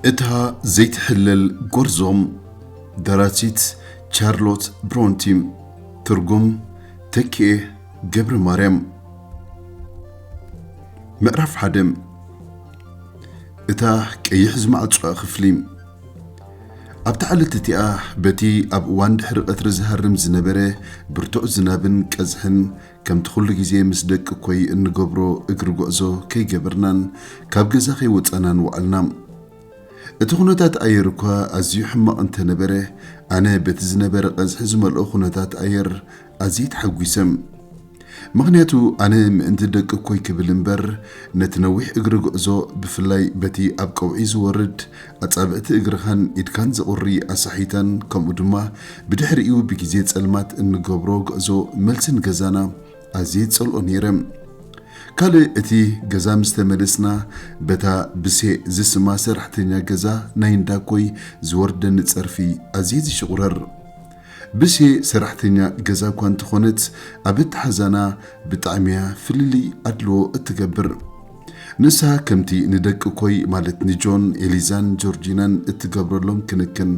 እታ ዘይትሕለል ጎርዞ ደራሲት ቻርሎት ብሮንቲ ትርጉም ተኪኤ ገብረማርያም ምዕራፍ ሓደ እታ ቀይሕ ዝማዕጾኣ ክፍሊ፣ ኣብታ ዕለት እቲኣ በቲ ኣብ እዋን ድሕሪ ቐትሪ ዝሃርም ዝነበረ ብርቱዕ ዝናብን ቀዝሕን ከምቲ ኩሉ ግዜ ምስ ደቂ ኮይ እንገብሮ እግሪ ጉዕዞ ከይገበርናን ካብ ገዛ ከይወጻናን ወዓልና። እቲ ኩነታት ኣየር እኳ ኣዝዩ ሕማቕ እንተነበረ ኣነ በቲ ዝነበረ ቐዝሒ ዝመልኦ ኩነታት ኣየር ኣዝየ ተሓጒሰ። ምኽንያቱ ኣነ ምእንቲ ደቅኮይ ክብል እምበር ነቲ ነዊሕ እግሪ ጉዕዞ ብፍላይ በቲ ኣብ ቀውዒ ዝወርድ ኣጻብዕቲ እግርኻን ኢድካን ዘቑሪ ኣሳሒታን ከምኡ ድማ ብድሕሪኡ ብግዜ ጸልማት እንገብሮ ጉዕዞ መልሲ ንገዛና ኣዝየ ይጸልኦ ነይረ። ካልእ እቲ ገዛ ምስ ተመለስና በታ ብሴ ዝስማ ሰራሕተኛ ገዛ ናይ እንዳኮይ ዝወርደኒ ጸርፊ ኣዝየ ዝሽቑረር። ብሴ ሰራሕተኛ ገዛ እኳ እንተኾነት ኣብ ኣተሓዛና ብጣዕሚያ ፍልልይ ኣድልዎ እትገብር። ንሳ ከምቲ ንደቂ ኮይ ማለት ንጆን፣ ኤሊዛን ጆርጂናን እትገብረሎም ክንክን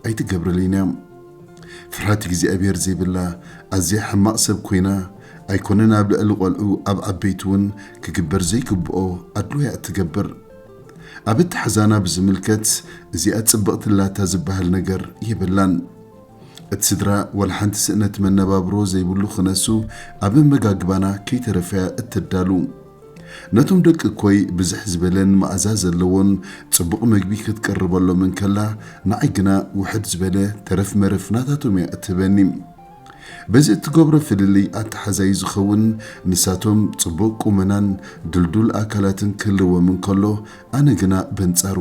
ኣይትገብረልንያ። ፍርሃት እግዚኣብሄር ዘይብላ ኣዝያ ሕማቕ ሰብ ኮይና ኣይኮነን ኣብ ልዕሊ ቆልዑ ኣብ ዓበይቲ እውን ክግበር ዘይግብኦ ኣድልዎያ እትገብር። ኣብ ኣተሓዛና ብዝምልከት እዚኣ ጽብቕቲ ኣላታ ዝበሃል ነገር የብላን። እቲ ስድራ ዋላ ሓንቲ ስእነት መነባብሮ ዘይብሉ ክነሱ ኣብ ኣመጋግባና ከይተረፈያ እተዳሉ። ነቶም ደቂ እኮይ ብዝሕ ዝበለን መኣዛ ዘለዎን ጽቡቕ መግቢ ክትቅርበሎም እንከላ ንዓይ ግና ውሕድ ዝበለ ተረፍ መረፍ ናታቶም እያ እትህበኒ። በዚ እትገብሮ ፍልልይ ኣተሓዛዩ ዝኸውን ንሳቶም ጽቡቕ ቁመናን ድልዱል ኣካላትን ክህልዎም እንከሎ ኣነ ግና በንጻሩ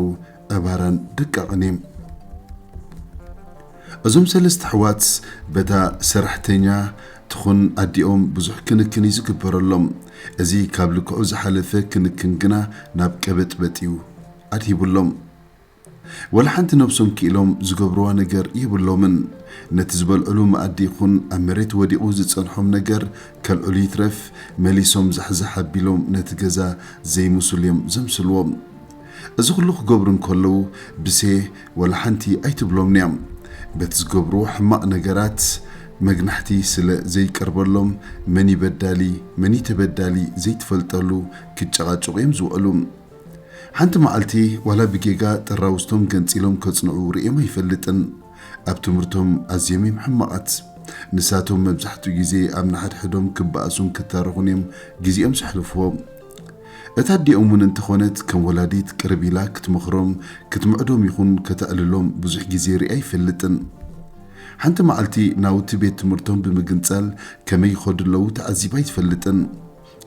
ዕባራን ደቃቕን እየ። እዞም ሰለስተ ኣሕዋት በታ ሰራሕተኛ ትኹን ኣዲኦም ብዙሕ ክንክን እዩ ዝግበረሎም። እዚ ካብ ልክዑ ዝሓለፈ ክንክን ግና ናብ ቀበጥበጥ እዩ ኣድሂቡሎም። ወላ ሓንቲ ነብሶም ኪኢሎም ዝገብርዋ ነገር የብሎምን ነቲ ዝበልዕሉ መኣዲ ይኹን ኣብ መሬት ወዲቁ ዝጸንሖም ነገር ከልዕሉ ይትረፍ መሊሶም ዛሕዛሕ ኣቢሎም ነቲ ገዛ ዘይምሱል እዮም ዘምስልዎ እዚ ኩሉ ክገብሩ እንከለዉ ብሴ ወላ ሓንቲ ኣይትብሎምንያ በቲ ዝገብርዎ ሕማቅ ነገራት መግናሕቲ ስለ ዘይቀርበሎም መንዩ በዳሊ መንዩ ተበዳሊ ዘይትፈልጠሉ ክጨቃጨቁ እዮም ዝውዕሉ። ሓንቲ መዓልቲ ዋላ ብጌጋ ጠራውዝቶም ገንጺሎም ከጽንዑ ርእየም ኣይፈልጥን። ኣብ ትምህርቶም ኣዝዮም እዮም ሕማቓት። ንሳቶም መብዛሕትኡ ግዜ ኣብ ንሓድሕዶም ክበኣሱን ክታረኹን እዮም ግዜኦም ዘሕልፍዎ። እታ ኣዲኦም እውን እንተኾነት ከም ወላዲት ቅርብ ኢላ ክትመኽሮም፣ ክትምዕዶም ይኹን ከተዕልሎም ብዙሕ ግዜ ርእየ ኣይፈልጥን። ሓንቲ መዓልቲ ናውቲ ቤት ትምህርቶም ብምግንጻል ከመይ ይኸዱ ኣለዉ ተዓዚባ ኣይትፈልጥን።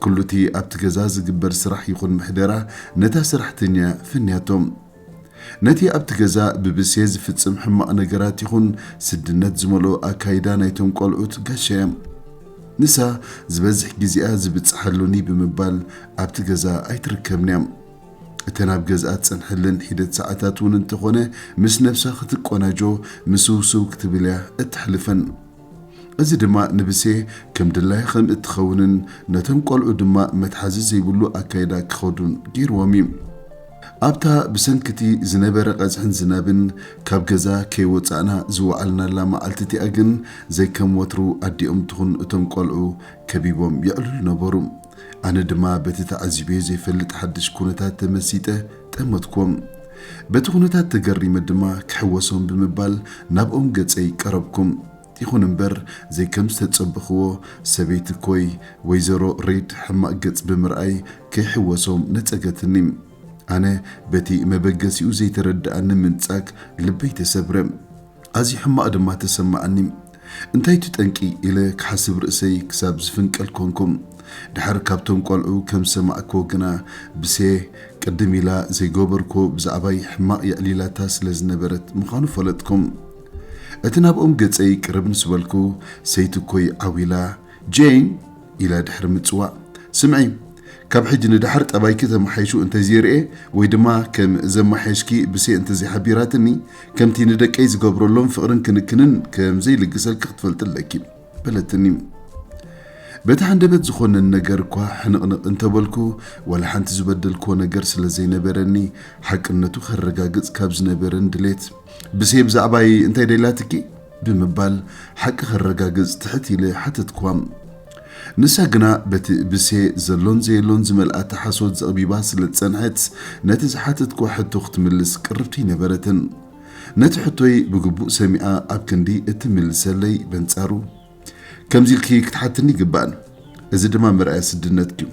ኩሉ'ቲ ኣብቲ ገዛ ዝግበር ስራሕ ይኹን ምሕደራ ነታ ሰራሕተኛ'ያ ፈንያቶ። ነቲ ኣብቲ ገዛ ብብሴ ዝፍጽም ሕማቕ ነገራት ይኹን ስድነት ዝመልኦ ኣካይዳ ናይቶም ቆልዑት ጋሻ'ያ። ንሳ ዝበዝሕ ግዜኣ ዝብጽሓሉኒ ብምባል ኣብቲ ገዛ ኣይትርከብን'ያ። እተን ኣብ ገዝኣ ትጸንሐለን ሒደት ሰዓታት'ውን እንተኾነ ምስ ነብሳ ክትቆናጆ ምስውስው ክትብል'ያ እተሕልፈን። እዚ ድማ ንብሴ ከም ድላያ ከም እትኸውንን ነቶም ቆልዑ ድማ መትሓዚ ዘይብሉ ኣካይዳ ክኸዱን ገይርዎም እዩ። ኣብታ ብሰንኪ እቲ ዝነበረ ቀዝሕን ዝናብን ካብ ገዛ ከይወጻእና ዝወዓልናላ መዓልቲ እቲኣ ግን ዘይከም ወትሩ ኣዲኦም ትኹን እቶም ቆልዑ ከቢቦም የዕልሉ ነበሩ። ኣነ ድማ በቲ ተዓዚበዮ ዘይፈልጥ ሓድሽ ኩነታት ተመሲጠ ጠመትኩም። በቲ ኩነታት ተገሪመ ድማ ክሕወሶም ብምባል ናብኦም ገጸይ ቀረብኩም። ይኹን እምበር ዘይከም ዝተጸበኽዎ ሰበይቲ ኮይ ወይዘሮ ሪድ ሕማቕ ገጽ ብምርኣይ ከይሕወሶም ነጸገትኒ። ኣነ በቲ መበገሲኡ ዘይተረደኣኒ ምንጻግ ልበይ ተሰብረ። ኣዝዩ ሕማቕ ድማ ተሰማዓኒ። እንታይ እቱ ጠንቂ ኢለ ክሓስብ ርእሰይ ክሳብ ዝፍንቀል ኮንኩ። ድሓር ካብቶም ቆልዑ ከም ዝሰማዕክዎ ግና ብሴ ቅድም ኢላ ዘይገበርክዎ ብዛዕባይ ሕማቕ የዕሊላታ ስለ ዝነበረት ምዃኑ ፈለጥኩ። እቲ ናብኦም ገጸይ ቅርብ ምስ በልኩ ሰይቲ እኮይ ዓው ኢላ፣ ጄን! ኢለ ድሕሪ ምጽዋእ፣ ስምዒ፣ ካብ ሕጂ ንደሓር ጠባይኪ ተመሓይሹ እንተዘይርኤ ወይ ድማ ከም ዘመሓየሽኪ ብሴ እንተዘይሓቢራትኒ፣ ከምቲ ንደቀይ ዝገብረሎም ፍቕርን ክንክንን ከም ዘይልግሰልኪ ክትፈልጢ ኣለኪ። በለትኒ። በቲ ሃንደበት ዝኾነን ነገር እኳ ሕንቕንቕ እንተበልኩ፣ ዋላ ሓንቲ ዝበደልክዎ ነገር ስለ ዘይነበረኒ፣ ሓቅነቱ ከረጋግጽ ካብ ዝነበረን ድሌት፣ ብሴ ብዛዕባይ እንታይ ደልያትኪ? ብምባል ሓቂ ከረጋግጽ ትሕት ኢለ ሓተትክዋ። ንሳ ግና በቲ ብሴ ዘሎን ዘየሎን ዝመልኣተ ሓሶት ዘቕቢባ ስለ ዝጸንሐት፣ ነቲ ዝሓተትክዋ ሕቶ ክትምልስ ቅርብቲ ኣይነበረትን። ነቲ ሕቶይ ብግቡእ ሰሚዓ ኣብ ክንዲ እትምልሰለይ፣ በንጻሩ፣ ከምዚ ኢልኪ ክትሓትኒ ኣይግባእን፣ እዚ ድማ መርኣያ ስድነትኪ'ዩ፣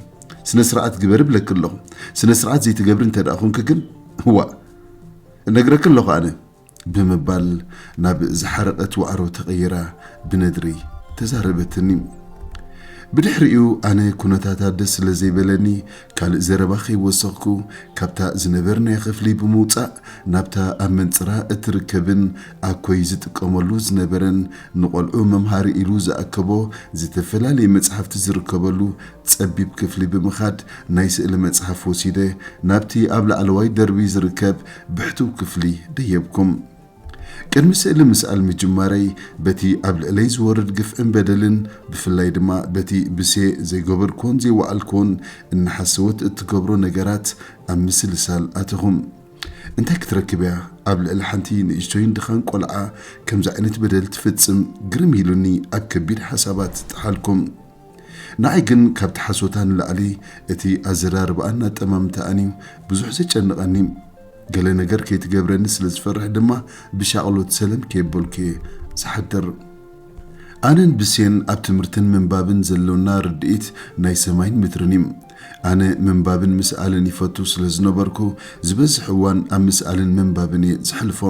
ስነ-ስርዓት ግበሪ እብለኪ ኣለኹ፣ ስነ-ስርዓት ዘይትገብሪ እንተድኣ ኹንኪ ግን፣ ዋእ! እነግረኪ ኣለኹ ኣነ! ብምባል ናብ ዝሓረቐት ዋዕሮ ተቐይራ ብነድሪ ተዛረበትኒ። ብድሕሪኡ ኣነ ኩነታታ ደስ ስለ ዘይበለኒ ካልእ ዘረባ ከይወሰኽኩ ካብታ ዝነበርናያ ክፍሊ ብምውጻእ ናብታ ኣብ መንጽራ እትርከብን ኣኮይ ዝጥቀመሉ ዝነበረን ንቖልዑ መምሃሪ ኢሉ ዝኣከቦ ዝተፈላለየ መጽሓፍቲ ዝርከበሉ ጸቢብ ክፍሊ ብምኻድ ናይ ስእሊ መጽሓፍ ወሲደ ናብቲ ኣብ ላዕለዋይ ደርቢ ዝርከብ ብሕቱው ክፍሊ ደየብኩም። ቅድሚ ስእሊ ምስኣል ምጅማረይ በቲ ኣብ ልዕለይ ዝወርድ ግፍዕን በደልን ብፍላይ ድማ በቲ ብሴ ዘይገበርክዎን ዘይወዓልክዎን እናሓሰወት እትገብሮ ነገራት ኣብ ምስልሳል ኣተኹም። እንታይ ክትረክብ እያ ኣብ ልዕሊ ሓንቲ ንእሽቶይን ድኻን ቆልዓ ከምዚ ዓይነት በደል ትፍጽም ግርም ኢሉኒ ኣብ ከቢድ ሓሳባት ጠሓልኩም። ንዓይ ግን ካብቲ ሓሶታ ንላዕሊ እቲ ኣዘራርባኣን ኣጠማምታኣን እዩ ብዙሕ ዘጨንቐኒ። ገለ ነገር ከይትገብረኒ ስለ ዝፈርሕ ድማ ብሻቕሎት ሰለም ከየበልኩ እየ ዝሓድር። ኣነን ብሴን ኣብ ትምህርትን ምንባብን ዘሎና ርድኢት ናይ ሰማይን ምድርን እዩ። ኣነ ምንባብን ምስኣልን ይፈቱ ስለ ዝነበርኩ ዝበዝሕ እዋን ኣብ ምስኣልን ምንባብን እየ ዘሕልፎ።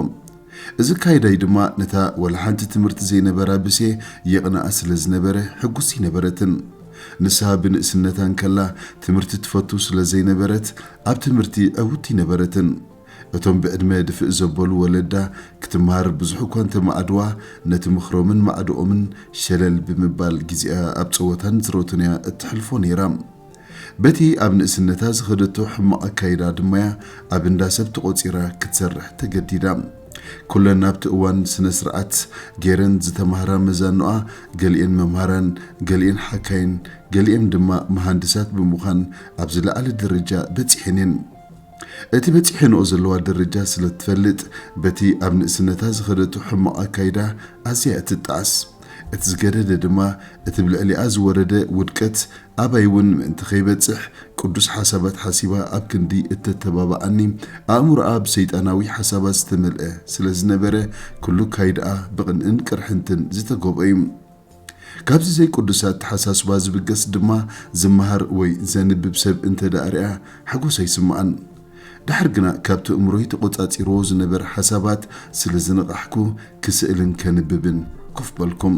እዚ ኣካይዳይ ድማ ነታ ዋላ ሓንቲ ትምህርቲ ዘይነበራ ብሴ የቕንኣ ስለ ዝነበረ ሕጉስቲ ኣይነበረትን። ንሳ ብንእስነታ እንከላ ትምህርቲ ትፈቱ ስለ ዘይነበረት ኣብ ትምህርቲ ዕውትቲ ኣይነበረትን። እቶም ብዕድመ ድፍእ ዘበሉ ወለዳ ክትመሃር ብዙሕ እኳ እንተ መዓድዋ ነቲ ምኽሮምን ማዕድኦምን ሸለል ብምባል ግዜኣ ኣብ ጸወታን ዝሮትን እያ እተሕልፎ ነይራ። በቲ ኣብ ንእስነታ ዝኸደቶ ሕማቕ ኣካይዳ ድማ'ያ ኣብ እንዳ ሰብ ተቖጺራ ክትሰርሕ ተገዲዳ። ኩለን ኣብቲ እዋን ስነ-ስርዓት ገይረን ዝተማህራ መዛኑኣ፣ ገሊኤን መምሃራን፣ ገሊኤን ሓካይም፣ ገሊኤን ድማ መሃንድሳት ብምዃን ኣብ ዝለዓለ ደረጃ በጺሐን'የን። እቲ በጺሐንኦ ዘለዋ ደረጃ ስለ እትፈልጥ፣ በቲ ኣብ ንእስነታ ዝኸደቶ ሕማቕ ኣካይዳ ኣዝያ'ያ ትጠዓስ። እቲ ዝገደደ ድማ እቲ ብልዕሊኣ ዝወረደ ውድቀት ኣባይ እውን ምእንቲ ከይበጽሕ ቅዱስ ሓሳባት ሓሲባ ኣብ ክንዲ እተተባብዓኒ ኣእምሮኣ ብሰይጣናዊ ሓሳባት ዝተመልአ ስለ ዝነበረ ኩሉ ካይድኣ ብቕንእን ቅርሕንትን ዝተጎብኦ እዩ። ካብዚ ዘይቅዱስ ኣተሓሳስባ ዝብገስ ድማ ዝመሃር ወይ ዘንብብ ሰብ እንተድኣ ርኣ ሓጎስ ኣይስምዓን። ድሓር ግና ካብቲ እእምሮይ ተቖጻጺርዎ ዝነበረ ሓሳባት ስለ ዝነቓሕኩ ክስእልን ከንብብን ኮፍ በልኩም።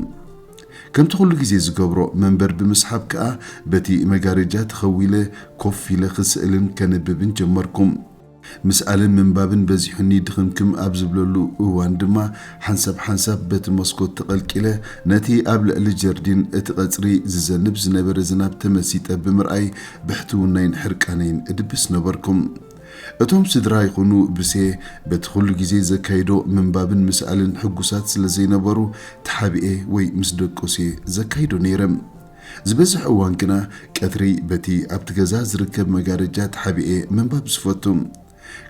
ከምቲ ኩሉ ግዜ ዝገብሮ መንበር ብምስሓብ ከኣ በቲ መጋረጃ ተኸዊለ ኮፍ ኢለ ክስእልን ከንብብን ጀመርኩ። ምስኣልን ምንባብን በዚሑኒ ድኽምክም ኣብ ዝብለሉ እዋን ድማ ሓንሳብ ሓንሳብ በቲ መስኮት ተቐልቂለ ነቲ ኣብ ልዕሊ ጀርዲን እቲ ቐጽሪ ዝዘንብ ዝነበረ ዝናብ ተመሲጠ ብምርኣይ ብሕትውናይን ሕርቃነይን እድብስ ነበርኩ። እቶም ስድራ ይኹኑ ብሴ በቲ ኹሉ ግዜ ዘካይዶ ምንባብን ምስኣልን ሕጉሳት ስለ ዘይነበሩ ተሓቢኤ ወይ ምስ ደቆስ'የ ዘካይዶ ነይረ። ዝበዝሕ እዋን ግና ቀትሪ በቲ ኣብቲ ገዛ ዝርከብ መጋረጃ ተሓቢኤ ምንባብ ዝፈቱ።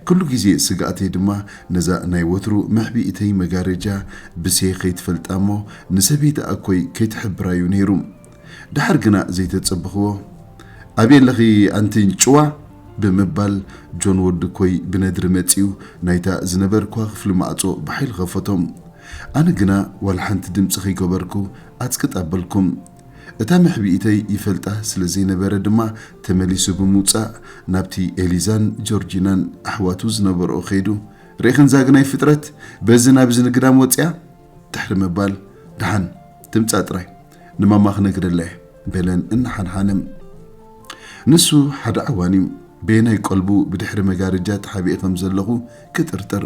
ኩሉ ግዜ ስግኣተይ ድማ ነዛ ናይ ወትሩ መሕቢኢተይ መጋረጃ ብሴ ከይትፈልጣ እሞ ንሰበይቲ ኣኮይ ከይትሕብራ እዩ ነይሩ። ደሓር ግና ዘይተጸበኽዎ ኣበይ ኣለኺ ኣንቲ ኣንጭዋ ብምባል ጆን ወዲ እኮይ ብነድሪ መጺኡ ናይታ ዝነበርክዋ ክፍሊ ማዕጾ ብሓይሊ ከፈቶ። ኣነ ግና ዋላ ሓንቲ ድምጺ ከይገበርኩ ኣጽቅጥ ኣበልኩ። እታ መሕብኢተይ ይፈልጣ ስለ ዘይነበረ ድማ ተመሊሱ ብምውጻእ ናብቲ ኤሊዛን ጆርጂናን ኣሕዋቱ ዝነበርኦ ከይዱ ርኢኽንዛ ግናይ ፍጥረት በዚ ናብዚ ንግዳም ወጺኣ ድሕሪ ምባል ደሓን ትምጻእ ጥራይ ንማማ ክነግረላ እየ በለን እናሓንሓነ ንሱ ሓደ ዓዋን እዩ በየናይ ቆልቡ ብድሕሪ መጋርጃ ተሓቢኤ ከም ዘለኹ ክጥርጥር።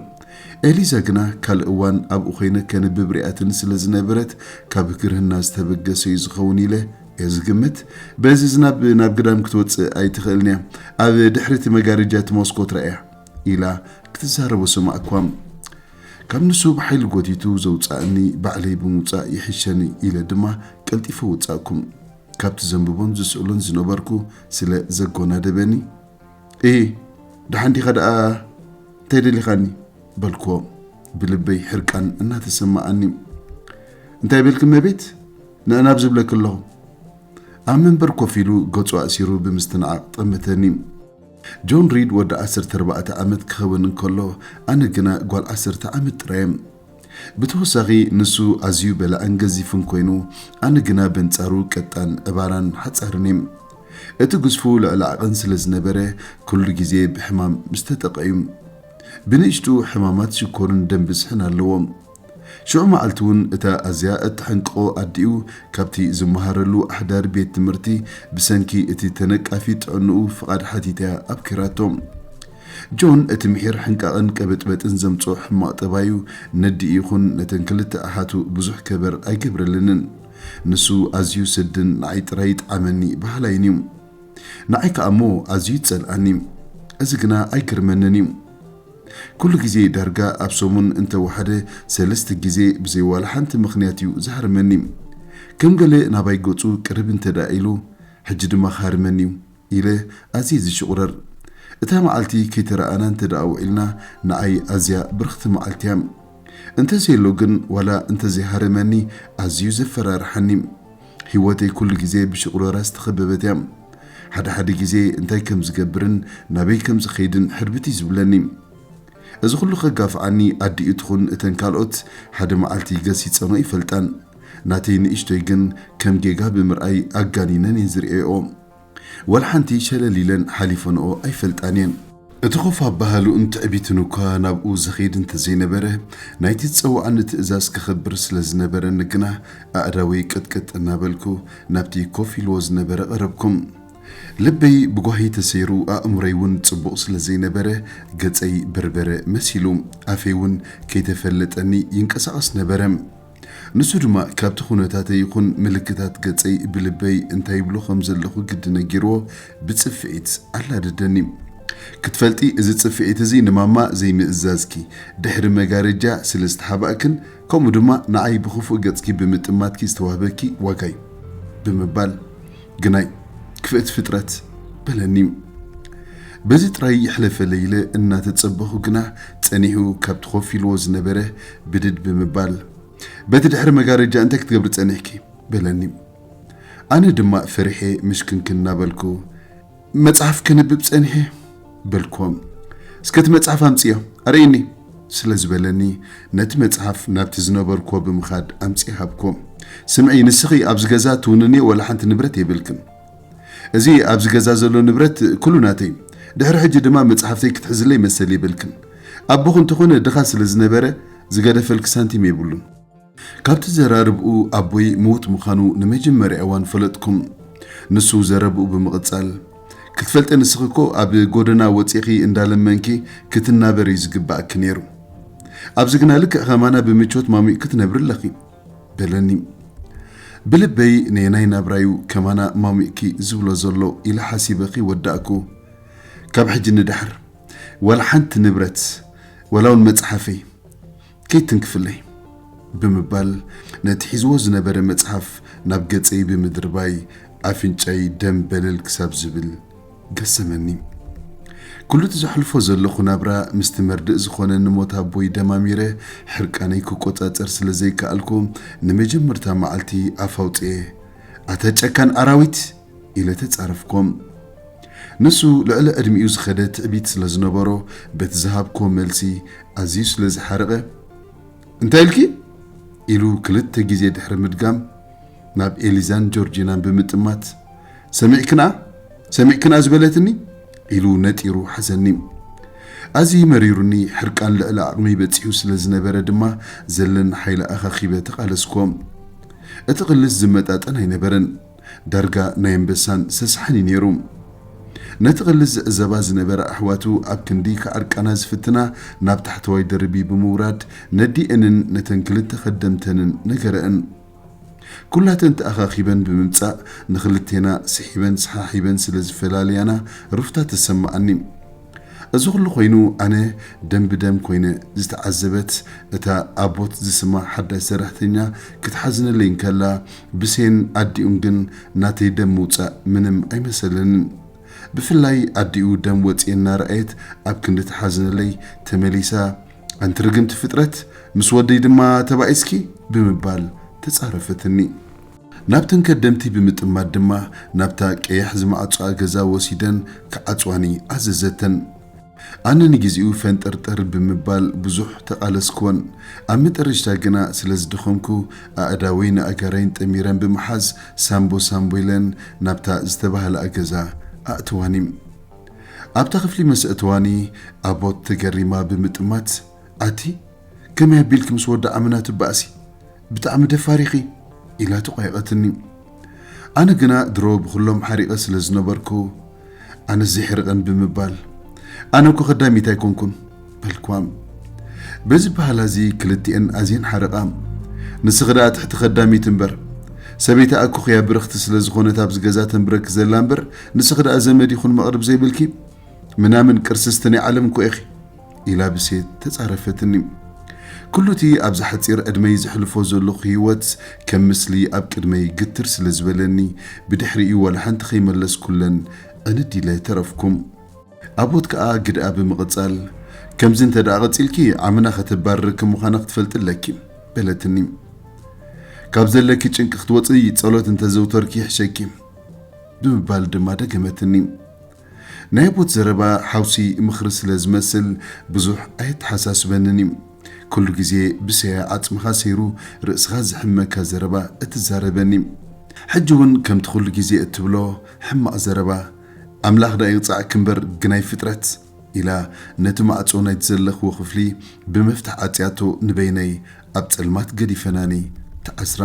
ኤሊዛ ግና ካልእ እዋን ኣብኡ ኮይነ ከንብብ ሪኣትኒ ስለ ዝነበረት ካብ ግርህና ዝተበገሰ እዩ ዝኸውን ኢለ እየ ዝግምት። በዚ ዝናብ ናብ ግዳም ክትወጽእ ኣይትኽእልን እያ። ኣብ ድሕሪ እቲ መጋረጃ እቲ ሞስኮት ረኣያ። ኢላ ክትዛረቦ ሰማዕኩዋ። ካብ ንሱ ብሓይሊ ጎቲቱ ዘውጽኣኒ ባዕለይ ብምውጻእ ይሕሸኒ ኢለ ድማ ቀልጢፈ ወጻእኩ። ካብቲ ዘንብቦን ዝስእሎን ዝነበርኩ ስለ ዘጎናደበኒ። እሂ ደሓን ዲኻ ደኣ እንታይ ደሊኻኒ? በልክዎ ብልበይ ሕርቃን እናተሰማኣኒ። እንታይ በልኪ እመቤት? ንዕን ኣብ ዝብለኪ ኣለኹ። ኣብ መንበር ኮፍ ኢሉ ገጹ ኣእሲሩ ብምስትንዓቕ ጠመተኒ። ጆን ሪድ ወዲ ዓሰርተ ኣርባዕተ ዓመት ክኸውን እንከሎ ኣነ ግና ጓል ዓሰርተ ዓመት ጥራይ እየ። ብተወሳኺ ንሱ ኣዝዩ በላዕን ገዚፍን ኮይኑ፣ ኣነ ግና በንጻሩ ቀጣን፣ ዕባራን ሓጻርን እየ። እቲ ግዝፉ ልዕሊ ዓቐን ስለ ዝነበረ ኩሉ ግዜ ብሕማም ምስ ተጠቕዐ እዩ። ብንእሽትኡ ሕማማት ሽኮርን ደም ብዝሕን ኣለዎ። ሽዑ መዓልቲ እውን እታ ኣዝያ እተሐንቅቖ ኣዲኡ ካብቲ ዝመሃረሉ ኣሕዳሪ ቤት ትምህርቲ ብሰንኪ እቲ ተነቃፊ ጥዕንኡ ፍቓድ ሓቲታ ኣብኲራቶ። ጆን እቲ ምሒር ሕንቃቕን ቀበጥበጥን ዘምጽኦ ሕማቕ ጠባዩ ነዲኡ ይኹን ነተን ክልተ ኣሓቱ ብዙሕ ከበር ኣይገብረለንን። ንሱ ኣዝዩ ስድን ንዓይ ጥራይ ይጥዓመኒ በሃላይን እዩ። ንዓይ ከኣ እሞ ኣዝዩ ይጸልኣኒ። እዚ ግና ኣይግርመንን እዩ። ኩሉ ግዜ ዳርጋ ኣብ ሰሙን እንተ ወሓደ ሰለስተ ግዜ ብዘይ ዋላ ሓንቲ ምኽንያት እዩ ዝሃርመኒ። ከም ገለ ናባይ ገጹ ቅርብ እንተድኣ ኢሉ ሕጂ ድማ ክሃርመኒ እዩ። ኢለ ኣዝየ ዝሽቑረር። እታ መዓልቲ ከይተረኣኣና እንተደኣ ውዒልና ንዓይ ኣዝያ ብርኽቲ መዓልቲ እያ። እንተዘየሎ ግን ዋላ እንተዘይሃረመኒ ኣዝዩ ዘፈራርሓኒ። ህይወተይ ኩሉ ግዜ ብሽቑረራ ዝተኸበበት እያ። ሓደ ሓደ ግዜ እንታይ ከም ዝገብርን ናበይ ከም ዝኸይድን ሕርብት እዩ ዝብለኒ። እዚ ኩሉ ከጋፍዓኒ ኣዲኡ ትኹን እተን ካልኦት ሓደ መዓልቲ ገሲጸንኦ ኣይፈልጣን። ናተይ ንእሽቶይ ግን ከም ጌጋ ብምርኣይ ኣጋኒነን እየን ዝርእየኦ። ወላ ሓንቲ ሸለል ኢለን ሓሊፈንኦ ኣይፈልጣን እየን። እቲ ኮፍ ኣበሃህልኡን ትዕቢቱን እኳ ናብኡ ዘኼድ እንተዘይነበረ፣ ናይቲ ዝጸውዓኒ ትእዛዝ ከኽብር ስለ ዝነበረኒ ግና ኣእዳወይ ቅጥቅጥ እናበልኩ ናብቲ ኮፍ ኢልዎ ዝነበረ ቀረብኩ። ልበይ ብጓሂ ተሰይሩ ኣእምሮይ'ውን ጽቡቕ ስለ ዘይነበረ ገጸይ በርበረ መሲሉ፣ ኣፈይ'ውን ከይተፈለጠኒ ይንቀሳቐስ ነበረ። ንሱ ድማ ካብቲ ኩነታተይ ይኹን ምልክታት ገጸይ ብልበይ እንታይ ይብሎ ከም ዘለኹ ግዲ ነጊርዎ ብጽፍዒት ኣላደደኒ። ክትፈልጢ እዚ ጽፍዒት እዚ ንማማ ዘይምእዛዝኪ፣ ድሕሪ መጋረጃ ስለ ዝተሓባእክን ከምኡ ድማ ንዓይ ብኽፉእ ገጽኪ ብምጥማትኪ ዝተዋህበኪ ዋጋ'ዩ። ብምባል ግናይ ክፍእቲ ፍጥረት! በለኒ። በዚ ጥራይ ይሕለፈለይ ኢለ እናተጸበኹ ግና ጸኒሑ ካብቲ ኮፍ ኢልዎ ዝነበረ ብድድ ብምባል፣ በቲ ድሕሪ መጋረጃ እንታይ ክትገብሪ ጸኒሕኪ? በለኒ። ኣነ ድማ ፈሪሐ ምሽክንክን እናበልኩ፣ መጽሓፍ ከንብብ ጸኒሐ። በልኩዎ። እስከ እቲ መጽሓፍ ኣምጽዮ ኣርእይኒ። ስለ ዝበለኒ፣ ነቲ መጽሓፍ ናብቲ ዝነበርኩዎ ብምኻድ ኣምጺኤ ሃብኩዎ። ስምዒ ንስኺ ኣብዚ ገዛ ትውንንዮ ዋላ ሓንቲ ንብረት የብልክን። እዚ ኣብዚ ገዛ ዘሎ ንብረት ኩሉ ናተይ ድሕሪ ሕጂ ድማ መጽሓፍተይ ክትሕዝለይ መሰል የብልክን። ኣቦኺ እንተኾነ ድኻ ስለ ዝነበረ ዝገደፈልኪ ሳንቲም የብሉን። ካብቲ ዘራርብኡ ኣቦይ ምዉት ምዃኑ ንመጀመርያ እዋን ፈለጥኩ። ንሱ ዘረብኡ ብምቕጻል፣ ክትፈልጢ ንስኺ እኮ ኣብ ጎደና ወጺእኺ እንዳለመንኪ ክትናበሪ እዩ ዝግብኣኪ ነይሩ። ኣብዚ ግና ልክዕ ከማና ብምቾት ማሙቕኪ ትነብሪ ኣለኺ። በለኒ ብልበይ ነየናይ ናብራዩ ከማና ማሚእኪ ዝብሎ ዘሎ ኢለ ሓሲበ ክይወዳእኩ ካብ ሕጂ ንደሓር ዋላ ሓንቲ ንብረት ዋላውን መጽሓፈይ ከይትንክፍለይ ብምባል ነቲ ሒዝዎ ዝነበረ መጽሓፍ ናብ ገጸይ ብምድርባይ ኣፍንጫይ ደም በለል ክሳብ ዝብል ገሰመኒ ኩሉ እቲ ዘሕልፎ ዘለኹ ናብራ ምስቲ መርድእ ዝኾነኒ ሞት ኣቦይ ደማሚረ ሕርቃነይ ክቆጻጸር ስለ ዘይከኣልኩ ንመጀመርታ መዓልቲ ኣፍ ኣውጺኤ ኣታ ጨካን ኣራዊት ኢለ ተጻረፍኩ። ንሱ ልዕሊ ዕድሚኡ ዝኸደ ትዕቢት ስለ ዝነበሮ በቲ ዝሃብኩዎ መልሲ ኣዝዩ ስለ ዝሓረቐ እንታይ ኢልኪ ኢሉ ክልተ ግዜ ድሕሪ ምድጋም ናብ ኤሊዛን ጆርጂናን ብምጥማት፣ ሰሚዕክና? ሰሚዕክና ዝበለትኒ? ኢሉ ነጢሩ ሓዘኒ። ኣዝዩ መሪሩኒ፣ ሕርቃን ልዕሊ ዓቕመይ በጺሑ ስለ ዝነበረ ድማ ዘለኒ ሓይሊ ኣኻኺበ ተቓለስኩዎ። እቲ ቅልስ ዝመጣጠን ኣይነበረን፣ ዳርጋ ናይ ኣንበሳን ሰስሓን እዩ ነይሩ። ነቲ ቅልስ ዝዕዘባ ዝነበራ ኣሕዋቱ ኣብ ክንዲ ክዓርቃና ዝፍትና ናብ ታሕተዋይ ደርቢ ብምውራድ ነዲኤንን ነተን ክልተ ከደምተንን ነገረእን። ኩላተን ተኣኻኺበን ብምምጻእ ንኽልቴና ስሒበን ሰሓሒበን ስለ ዝፈላልያና ሩፍታ ተሰመኣኒ። እዚ ኩሉ ኮይኑ ኣነ ደም ብደም ኮይነ ዝተዓዘበት እታ ኣቦት ዝስማ ሓዳሽ ሰራሕተኛ ክትሓዝነለይ እንከላ ብሴን ኣዲኡን ግን ናተይ ደም ምውጻእ ምንም ኣይመሰለንን። ብፍላይ ኣዲኡ ደም ወጽኤን እናረኣየት ኣብ ክንዲ ትሓዝነለይ ተመሊሳ ኣንቲ ርግምቲ ፍጥረት ምስ ወደይ ድማ ተባኢስኪ ብምባል ተጻረፈትኒ። ናብተን ከደምቲ ብምጥማት ድማ ናብታ ቀያሕ ዝመዓጾኣ ገዛ ወሲደን ክዓጽዋኒ ኣዘዘተን። ኣነ ንግዜኡ ፈንጠርጠር ብምባል ብዙሕ ተቓለስክወን። ኣብ መጠረሽታ ግና ስለ ዝደኸምኩ ኣእዳወይ ንኣእጋረይን ጠሚረን ብምሓዝ ሳምቦ ሳምቦ ኢለን ናብታ ዝተባህለኣ ገዛ ኣእተዋኒ። ኣብታ ክፍሊ ምስ ኣእተዋኒ ኣቦት ተገሪማ ብምጥማት ኣቲ ከመይ ኣቢልኪ ምስ ወዳ ኣመና ትባእሲ ብጣዕሚ ደፋር ኢኺ ኢላ ተቋየቐትኒ ኣነ ግና ድሮ ብኹሎም ሓሪቐ ስለ ዝነበርኩ ኣነስ ዘይሕርቐን ብምባል ኣነ እኮ ከዳሚት ኣይኮንኩን በልክዋ። በዚ በሃላ እዚ ክልቲኤን ኣዝየን ሓረቓ። ንስኺ ደኣ ትሕቲ ከዳሚት እምበር። ሰበይቲ ኣኮኽያ ብርኽቲ ስለ ዝኾነት ኣብዚ ገዛ ተንብረኪ ዘላ እምበር ንስኺ ደኣ ዘመድ ይኹን መቕርብ ዘይብልኪ ምናምን ቅርስስቲ ናይ ዓለም እኮ ኢኺ። ኢላ ብሴት ተጻረፈትኒ። ኩሉ እቲ ኣብዛ ሓጺር ዕድመይ ዘሕልፎ ዘለኹ ህይወት ከም ምስሊ ኣብ ቅድመይ ግትር ስለ ዝበለኒ ብድሕሪኡ ዋላ ሓንቲ ከይመለስኩለን ዕንድ ኢለ ተረፍኩ። ኣቦት ከኣ ግድኣ ብምቕጻል፣ ከምዚ እንተ ደኣ ቐጺልኪ፣ ዓምና ኸተባርሪ ከም ምዃና ኽትፈልጢ ኣለኪ። በለትኒ። ካብ ዘለኪ ጭንቂ ኽትወጺ ጸሎት እንተ ኣዘውተርኪ ይሕሸኪ። ብምባል ድማ ደገመትኒ። ናይ ኣቦት ዘረባ ሓውሲ ምኽሪ ስለ ዝመስል ብዙሕ ኣየተሓሳስበንን እዩ። ኩሉ ግዜ ብሰያ ዓጽምኻ ሰይሩ ርእስኻ ዘሕምመካ ዘረባ እትዛረበኒ። ሕጂ እውን ከምቲ ኩሉ ግዜ እትብሎ ሕማቕ ዘረባ ኣምላኽ ደኣ ይቕጽዓኪ እምበር ግናይ ፍጥረት ኢላ ነቲ ማዕጾ ናይቲ ዘለኽዎ ክፍሊ ብመፍትሕ ዓጽያቶ ንበይነይ ኣብ ጸልማት ገዲፈናኒ ተዓስራ።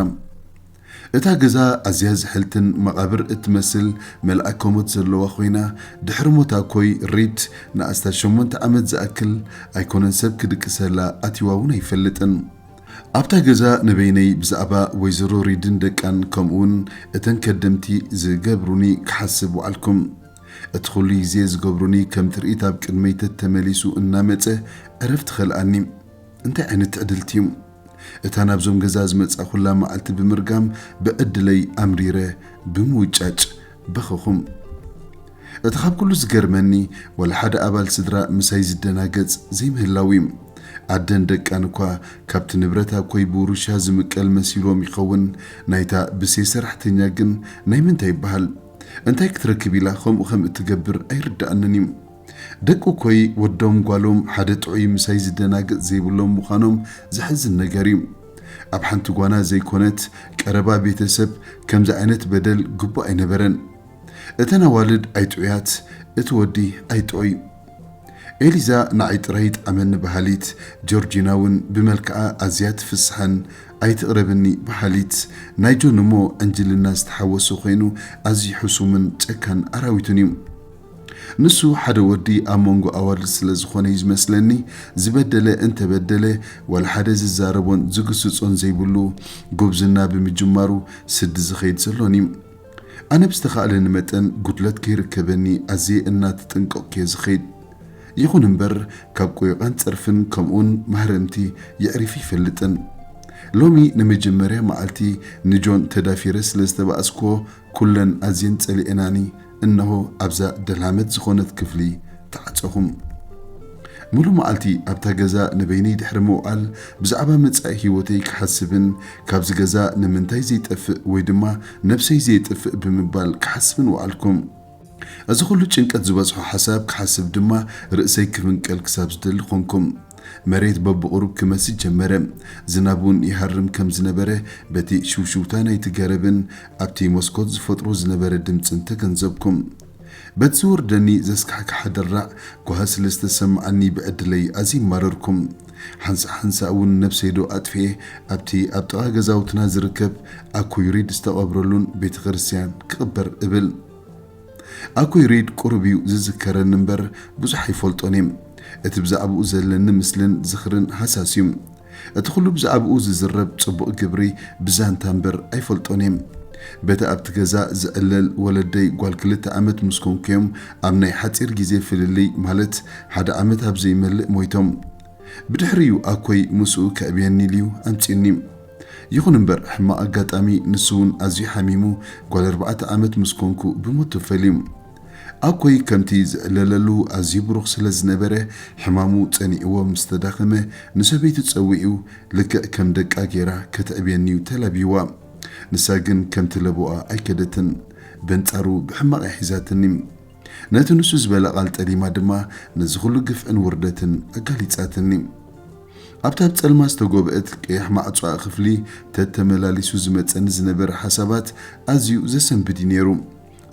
እታ ገዛ ኣዝያ ዝሕልትን መቓብር እትመስል መልኣከ ሞት ዘለዋ ኮይና ድሕሪ ሞት ኣኮይ ሪድ ንኣስታት ሸሞንተ ዓመት ዝኣክል ኣይኮነን ሰብ ክድቅሰላ ኣትይዋ እውን ኣይፈልጥን። ኣብታ ገዛ ንበይነይ ብዛዕባ ወይዘሮ ሪድን ደቃን ከምኡውን እተን ከደምቲ ዝገብሩኒ ክሓስብ ወዓልኩ። እቲ ኹሉ ግዜ ዝገብሩኒ ከም ትርኢት ኣብ ቅድመይ ተተመሊሱ እናመጸ ዕረፍቲ ከልኣኒ። እንታይ ዓይነት ትዕድልቲ እዩ! እታ ናብዞም ገዛ ዝመጻእኹላ መዓልቲ ብምርጋም ብዕድለይ ኣምሪረ ብምውጫጭ በኸኹም። እቲ ካብ ኩሉ ዝገርመኒ ዋላ ሓደ ኣባል ስድራ ምሳይ ዝደናገጽ ዘይምህላዉ'ዩ። ኣደን ደቃን እኳ ካብቲ ንብረት ኣኮይ ብውርሻ ዝምቀል መሲልዎም ይኸውን፣ ናይታ ብሴ ሰራሕተኛ ግን ናይ ምንታይ ይበሃል? እንታይ ክትረክብ ኢላ ከምኡ ከም እትገብር ኣይርደኣንን'ዩ። ደቂ እኮይ ወዶም ጓሎም ሓደ ጥዑይ ምሳይ ዝደናገጽ ዘይብሎም ምዃኖም ዘሕዝን ነገር እዩ። ኣብ ሓንቲ ጓና ዘይኮነት ቀረባ ቤተሰብ ከምዚ ዓይነት በደል ግቡእ ኣይነበረን። እተን ኣዋልድ ኣይጥዑያት እቲ ወዲ ኣይጥዑይ። ኤሊዛ ንዓይ ጥራይ ይጥዓመኒ በሃሊት፣ ጆርጂና ውን ብመልክዓ ኣዝያ ትፍስሓን ኣይትቕረብኒ በሃሊት ናይ ጆን እሞ ዕንጅልና ዝተሓወሶ ኮይኑ ኣዝዩ ሕሱምን ጨካን ኣራዊትን እዩ። ንሱ ሓደ ወዲ ኣብ መንጎ ኣዋልድ ስለ ዝኾነ'ዩ ዝመስለኒ ዝበደለ እንተ በደለ ዋላ ሓደ ዝዛረቦን ዝግስጾን ዘይብሉ ጉብዝና ብምጅማሩ ስዲ ዝኸይድ ዘሎን'ዩ። ኣነ ብዝተኻእለኒ መጠን ጉድለት ከይርከበኒ ኣዝየ እናተጠንቀቕኩ'የ ዝኸይድ። ይኹን እምበር ካብ ቆይቓን ጸርፍን ከምኡ'ውን ማህረምቲ የዕሪፊ ኣይፈልጥን። ሎሚ ንመጀመርያ መዓልቲ ንጆን ተዳፊረ ስለ ዝተባእስኩዎ ኩለን ኣዝየን ጸሊኤናኒ። እነሆ ኣብዛ ደልሃመት ዝኾነት ክፍሊ ተዓጸኹም። ምሉእ መዓልቲ ኣብታ ገዛ ንበይነይ ድሕሪ ምውዓል ብዛዕባ መጻኢ ህይወተይ ክሓስብን ካብዚ ገዛ ንምንታይ ዘይጠፍእ ወይ ድማ ነብሰይ ዘየጥፍእ ብምባል ክሓስብን ወዓልኩም። እዚ ኹሉ ጭንቀት ዝበዝሖ ሓሳብ ክሓስብ ድማ ርእሰይ ክፍንቀል ክሳብ ዝደሊ ኾንኩም። መሬት በብቑሩብ ክመስስ ጀመረ። ዝናብ ውን ይሃርም ከም ዝነበረ በቲ ሽውሽውታ ናይቲ ገረብን ኣብቲ መስኮት ዝፈጥሮ ዝነበረ ድምጺ እንተገንዘብኩም። በቲ ዝወርደኒ ዘስካሕክሓ ደራዕ ጓሂ ስለ ዝተሰመዓኒ ብዕድለይ ኣዝየ ማረርኩ። ሓንሳእ ሓንሳእ እውን ነብሰይ ዶ ኣጥፊኤ ኣብቲ ኣብ ጥቓ ገዛውትና ዝርከብ ኣኩይ ሪድ ዝተቐብረሉን ቤተክርስትያን ክቕበር እብል። ኣኩይ ሪድ ቁሩብ እዩ ዝዝከረኒ እምበር ብዙሕ ኣይፈልጦን እየ። እቲ ብዛዕብኡ ዘለኒ ምስልን ዝኽርን ሃሳስ እዩ። እቲ ኩሉ ብዛዕብኡ ዝዝረብ ጽቡቕ ግብሪ ብዛንታ እምበር ኣይፈልጦን እየ። በቲ ኣብቲ ገዛ ዝዕለል ወለደይ ጓል ክልተ ዓመት ምስ ኮንኩ'ዮም ኣብ ናይ ሓጺር ግዜ ፍልልይ ማለት ሓደ ዓመት ኣብ ዘይመልእ ሞይቶም። ብድሕሪ'ዩ ኣኮይ ምስኡ ከዕብየኒ ኢሉ'ዩ ኣምጺኡኒ። ይኹን እምበር ሕማቕ ኣጋጣሚ ንሱ'ውን ኣዝዩ ሓሚሙ ጓል ኣርባዕተ ዓመት ምስ ኮንኩ ብሞት ተፈልዩ። ኣኮይ ከምቲ ዝዕለለሉ ኣዝዩ ብሩኽ ስለ ዝነበረ ሕማሙ ጸኒዕዎ ምስ ተዳኸመ ንሰበይቱ ጸዊዑ ልክዕ ከም ደቃ ጌራ ከተዕብየኒ'ዩ ተላብይዋ። ንሳ ግን ከምቲ ለበዋኣ ኣይከደትን በንጻሩ ብሕማቕ'ያ ሒዛትኒ። ነቲ ንሱ ዝበላ ቃል ጠሊማ ድማ ነዚ ኩሉ ግፍዕን ውርደትን ኣጋሊጻትኒ። ኣብታ ብ ጸልማ ዝተጎብእት ቀያሕ ማዕጾኣ ክፍሊ ተተመላሊሱ ዝመጸኒ ዝነበረ ሓሳባት ኣዝዩ ዘሰንብድ'ዩ ኔሩ።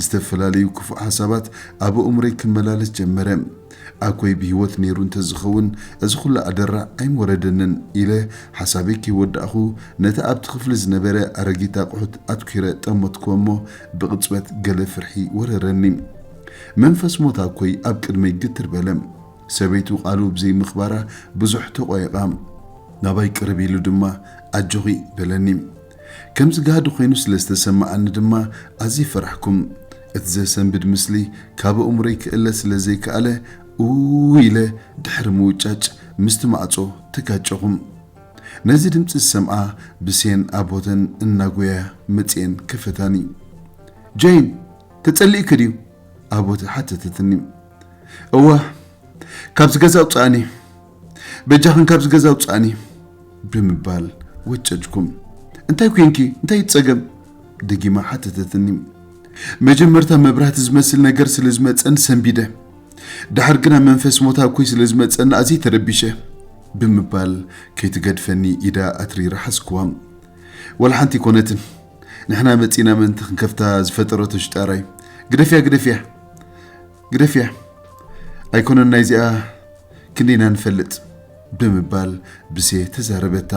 ዝተፈላለዩ ክፉእ ሓሳባት ኣብ ኣእምሮይ ክመላለስ ጀመረ። ኣኮይ ብህይወት ነይሩ እንተዝኸውን እዚ ኹሉ ኣደራዕ ኣይምወረደንን ኢለ ሓሳበይ ከይወዳእኹ ነቲ ኣብቲ ክፍሊ ዝነበረ ኣረጊት ኣቑሑት ኣትኲረ ጠመትኩዎ እሞ ብቕጽበት ገለ ፍርሒ ወረረኒ። መንፈስ ሞት ኣኮይ ኣብ ቅድመይ ግትር በለ። ሰበይቱ ቃሉ ብዘይምኽባራ ብዙሕ ተቖየቛ። ናባይ ቅርብ ኢሉ ድማ ኣጆኺ በለኒ። ከምዚ ጋህዲ ኮይኑ ስለ ዝተሰመኣኒ ድማ ኣዝየ ፈራሕኩም። እቲ ዘሰንብድ ምስሊ ካብ ኣእምሮይ ክእለ ስለ ዘይከኣለ ኡይ ኢለ ድሕሪ ምውጫጭ ምስቲ ማዕጾ ተጋጨኹም። ነዚ ድምጺ ዝሰምኣ ብሴን ኣቦተን እናጎያ መጺኤን ከፈታኒ። ጀይን! ተጸሊእኪ ድዩ? ኣቦተ ሓተተትኒ። እወ! ካብዚ ገዛ ኣውጽኣኒ! በጃኽን ካብዚ ገዛ ውፃእኒ ብምባል ወጨጭኩም። እንታይ ኮንኪ? እንታይ እዩ ፀገም? ደጊማ ሓተተትኒ። መጀመርታ መብራህቲ ዝመስል ነገር ስለ ዝመፀን ሰንቢደ፣ ድሓር ግና መንፈስ ሞት ኣብኮይ ስለ ዝመፀኒ ኣዝየ ተረቢሸ ብምባል ከይትገድፈኒ ኢዳ ኣትሪራ ሓዝክዋ። ወላ ሓንቲ ኣይኮነትን፣ ንሕና መፂእና ምእንቲ ክንከፍታ ዝፈጠረቶ ሽጣራ እዩ። ግደፍያ ግደፍያ! ግደፍያ ኣይኮነን ናይዚኣ ክንዲ ኢና ንፈልጥ ብምባል ብሴ ተዛረበታ።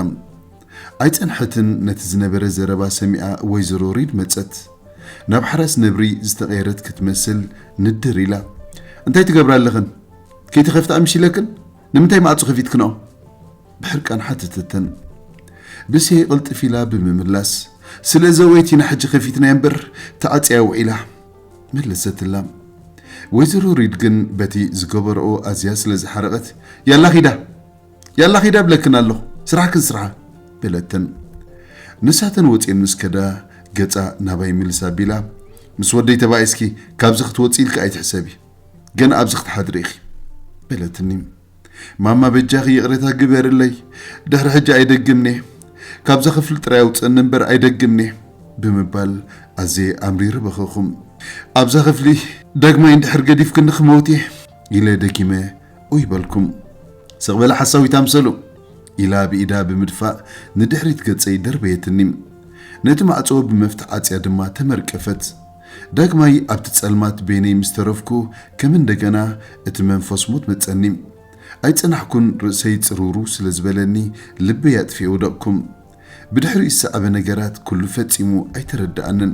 ኣይጸንሐትን ነቲ ዝነበረ ዘረባ ሰሚኣ ወይዘሮ ሪድ መጸት። ናብ ሓራስ ነብሪ ዝተቐየረት ክትመስል ንድር ኢላ እንታይ ትገብራ ኣለኽን? ከይተኸፍታ ምሽለክን? ንምንታይ ማዕጹ ከፊትክንኦ? ብሕርቃን ሓተተተን። ብሴ ቅልጥፍ ኢላ ብምምላስ ስለ ዘወይት ኢና ሕጂ ከፊትናያ እምበር ተዓጽያ ውዒላ። መለሰትላ። ወይዘሮ ሪድ ግን በቲ ዝገበረኦ ኣዝያ ስለ ዝሓረቐት ያላ ኺዳ ያላ ኺዳ እብለክን ኣለኹ ስራሕክን ስርሓ በለተን። ንሳተን ወጺኤን ምስ ከዳ ገጻ ናባይ ምልስ ኣቢላ ምስ ወደይ ተባኢስኪ ካብዚ ክትወጺ ኢልኪ ኣይትሕሰቢ ገና ኣብዚ ክትሓድሪ ኢኺ በለትኒ። ማማ በጃኺ ይቕሬታ ግበርለይ ድሕሪ ሕጂ ኣይደግምን'የ ካብዛ ክፍሊ ጥራይ ኣውጽእኒ እምበር ኣይደግምን'የ ብምባል ኣዝየ ኣምሪረ በኸኹ ኣብዛ ክፍሊ ዳግማይ እንድሕር ገዲፍክኒ ክመውት'የ ኢለ ደጊመ ኡይ በልኩ ስቕ በለ ሓሳዊት ኣምሰሉ ኢላ ብኢዳ ብምድፋእ ንድሕሪት ገጸይ ደርበየትኒ ነቲ ማዕጾ ብመፍትሕ ዓጽያ ድማ ተመርቀፈት ዳግማይ ኣብቲ ጸልማት በይነይ ምስ ተረፍኩ ከም እንደገና እቲ መንፈስ ሞት መጸኒ። ኣይጸናሕኩን ርእሰይ ጽርውርው ስለ ዝበለኒ ልበይ ኣጥፊኤ ወደቕኩ። ብድሕሪኡ ዝሰዓበ ነገራት ኩሉ ፈጺሙ ኣይተረደኣንን።